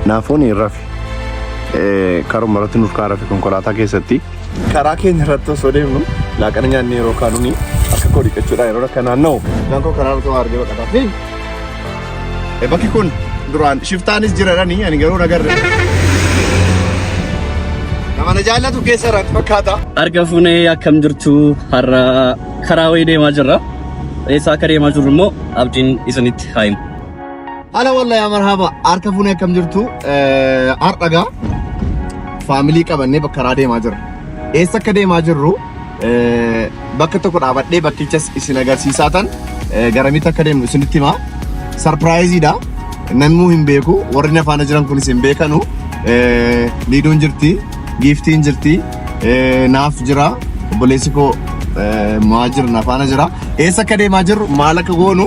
Naafoon rafi karuma irratti nuuf kaa rafi konkolaataa keessatti. Karaa keenya irratti osoo deemnu laaqana nyaanni yeroo kaanuni akka koo dhiqachuudhaan yeroo akka naanna'u. Naannoo karaa irratti waa argee baqataa fi bakki kun duraan shiftaanis jiraranii ani garuu nagarre. Nama na jaallatu keessa irratti fakkaata. Arga fuunee akkam jirtu har'a karaa wayii deemaa jirra. Eessaa akka deemaa jirru immoo abdiin isinitti haa himu. Ala walla yaa marhaba harka fuunee akkam jirtu har'agaa faamilii qabannee bakka karaa deemaa jirra. Eessa akka deemaa jirru bakka tokko dhaabadhee bakkichas isin agarsiisaa tan garamitti akka deemnu isinitti himaa. Sarpiraayiziidha. Namuu hin beeku warri na faana jiran kunis hin beekanu. Liidoon jirti, giiftiin jirti, naaf jira, obboleessi koo maa jira na faana jira. Eessa akka deemaa jirru maal akka goonu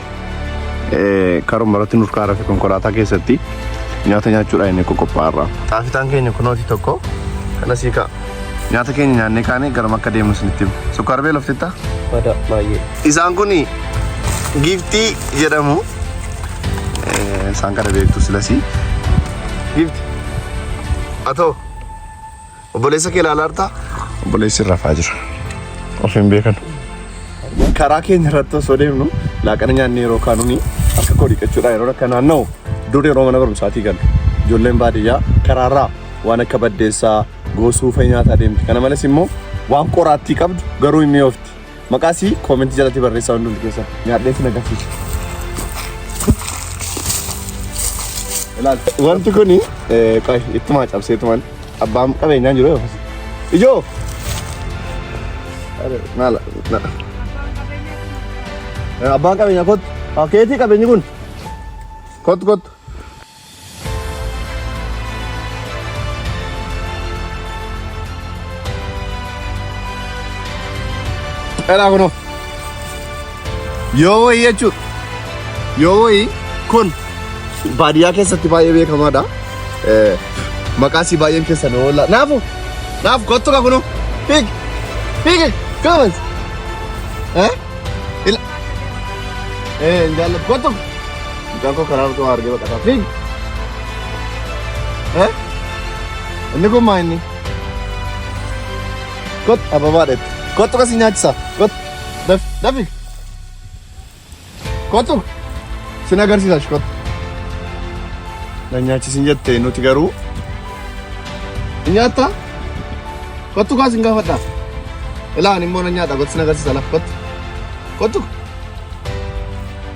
karuma irratti nurkaa rafe konkolaataa keessatti nyaata nyaachuudhaan inni qoqophaa'arra. Taafitaan keenya kunooti tokko kana sii ka'a. Nyaata keenya nyaannee kaanee garuma akka deemnu isinitti himu. Sukkaara beela oftittaa? Badaa baay'ee. Isaan kun giiftii jedhamu. Isaan kana beektu silasii. Giifti. Atoo. Obboleessa kee ilaalaa jirta? Obboleessi rafaa jira. Of hin beekan. Karaa keenya irratti osoo deemnu laaqana nyaanni yeroo kaanuni harka koo dhiqachuudhaan yeroo akka naanna'u dur yeroo mana barumsaatii galu ijoolleen baadiyyaa karaarraa waan akka baddeessaa goosuu fa'i nyaataa deemti. Kana malees immoo waan qoraattii qabdu garuu hin mi'oofti. Maqaa sii koomentii jalatti barreessaa hundumti keessan. Nyaadheetti na gafiiti. Ilaal. Wanti kuni eh, qoy ittumaa cabsee tuman abbaan qabeenyaan jiru yookas. Ijoo! Are, Naala. na- Eh, Abbaan qabeenyaa kottu. Ah, Keetii qabeenyi kun. Kottu kottu. Dhalaa kunoo. Yoo wayii jechuudha. Yoo wayii kun baadiyyaa keessatti baay'ee beekamaadha. Eh, Maqaa isii baay'een keessan oolla. Naafu! Naafu kottu ka kunoo. Fiig! Fiig! Kamas! Eh? Ila! Eh, hin jaalladhu. Kottu! Mucaan koo karaa irratti waa argee baqataa fiigi. Eh? Inni kun maa inni? Kot ababaa dheetti. Kottu kasi nyaachisa. Kot daf dafi. Kottu sin agarsiisa shi kottu. Na nyaachisin jette nuti garuu. Ni nyaattaa? Kottu kaa sin gaafadhaa. Ilaa ani immoo na nyaadha kottu sin agarsiisa lafa kottu. Kottu.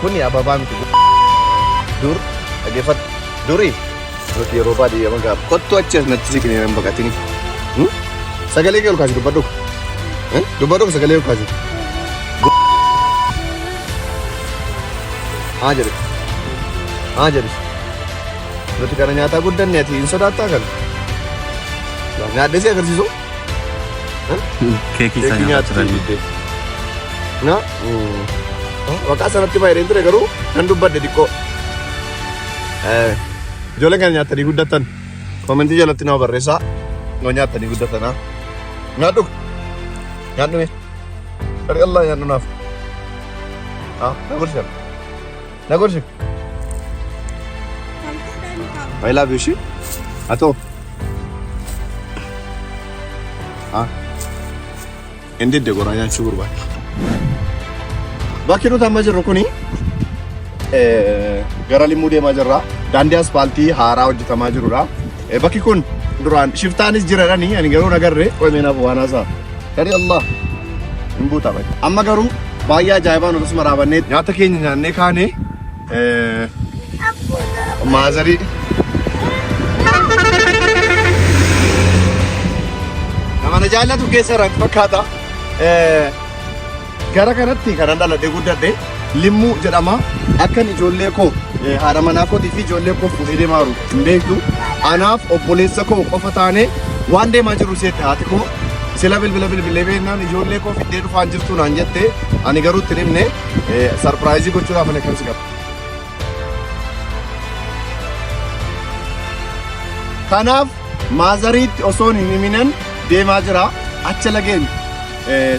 Kuni ababaa miti gu- dur dhaggeeffadhu duri nuti yeroo baadiyyaa gaaf kottu achi as natti siqnee nan baqatini. Hmm? Sagalee kee ol kaasi dubbadhu. Eh? Dubbadhu sagalee ol kaasi. Gu- Haa jedhe. Haa jedhe. Nuti kana nyaataa guddanne ati hin sodaattaa kana. Nyaadhesii agarsiisu. Keekii isaa Keekii nyaata nyaattii turanii. didde. Na waqaa sanatti fayyadeen ture garuu nan dubbadde xiqqoo. Eh, Ijoolleen kan nyaatanii guddatan koomentii jalatti nama barreessaa yoo nyaatanii guddatan haa. Nyaadhu. Nyaadhu mee. Dhari Allah nyaadhu naaf. Haa, na gorsina. Na gorsi. I love you, she. Ato. Ah. Inni didde goraa nyaachuu barbaada. Bakki nuti amma jirru kuni eh, gara limmuu deemaa jirra. Daandii aspaaltii haaraa hojjetamaa jirudha. Eh, Bakki kun duraan shiftaanis jiradhani ani garuu nagarre qo'imeenaaf waan haasaa. Gari Allah hin buuta bai. Amma garuu baay'ee ajaa'ibaan akkasuma raabannee nyaata keenya nyaannee kaane maazarii nama na jaallatu keessa irraa fakkaata. Gara kanatti kanan dhaladhee guddadhe Limmuu jedhama. Akkan ijoollee koo haadha manaa kootii fi ijoollee koo fuudhee deemaa jiru hin beektu. Anaaf obboleessa koo qofa taanee waan deemaa jirru seette haati koo. Sila bilbila bilbilee beeknaan ijoollee koo fiddee dhufaan jirtu naan jette ani garuu itti himne sarpiraayizii gochuudhaaf ani akkan si qabu. Kanaaf maazariitti osoon hin himinan deemaa jira acha lageen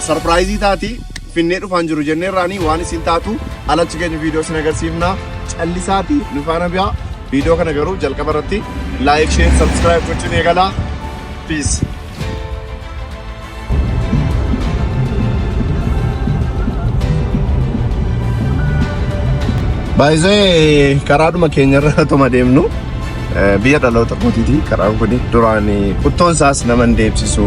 sarpiraayizii taati finnee dhufaan jiru jennee irraanii waan isin taatu alachi keenya viidiyoo isin agarsiifna callisaati nu faana biyaa viidiyoo kana garuu jalqaba irratti laayik sheer sabskiraayib gochuun eegalaa piis. Baay'isee karaadhuma keenyarra otuma deemnu. Biyya dhaloota kootiiti karaan kun duraan quttoon isaas nama hin deebsisu.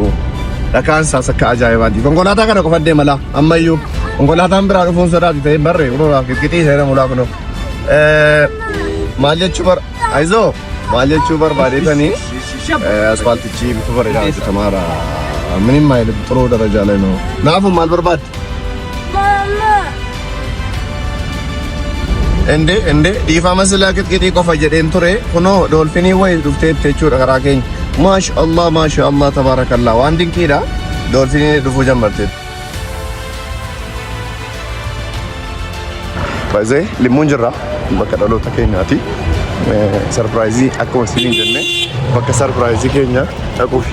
Dhakaan isaas akka ajaa'ibaati. Konkolaataa kana qofa deema laa ammayyuu konkolaataan biraa dhufuun sodaati ta'ee barree kunuunaa qixxii seera mulaa kunoo. Maal jechuu bar ayizoo maal jechuu barbaadeetanii asfaaltichi bifa bareedaa hojjetamaara. Minim maayilii xuroo darajaa leenoo. Naafuu maal barbaadde? Ende ende dhiifama silaa qixqixii qofa jedheen ture kunoo doolfinii wayii dhufteetti jechuudha karaa keenya. Maasha Allah maasha Allah tabaarakallah waan dinqiidha doolfinii dhufuu jammarteetti. Baay'ee limmuun jirra bakka dhaloota keenyaati. Sarpiraayizii akkuma isiniin jenne bakka sarpiraayizii keenya dhaquufi.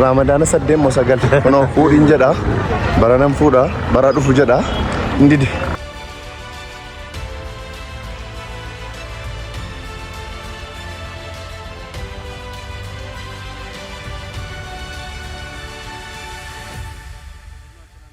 Raamadaana saddeet moo sagal kunoo fuudhiin jedha baranan fuudha bara dhufu jedha hin dide.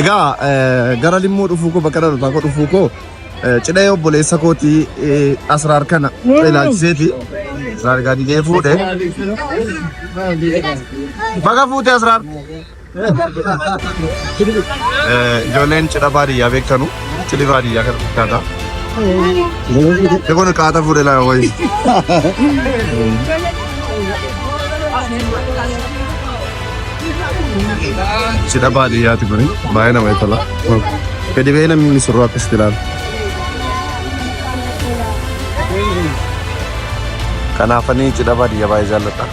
Egaa eh, gara limmuu dhufuu koo bakka dhalotaa koo dhufuu koo eh, cidha obboleessa kootii eh, asraar kana ilaalchiseeti. Asraar gaadiidee fuudhe. Baga fuute asraar. Ijoolleen cidha baadiyyaa beektanu cidhi baadiyyaa kana fakkaata. Kun qaata fuudhe laa wayii. Cidha baadiyyaati kuni baay'ee namatti tola. Gadi ba'ee namni misirroo akkasitti ilaala. Kanaafanii cidha baadiyyaa baay'ee jaalladha.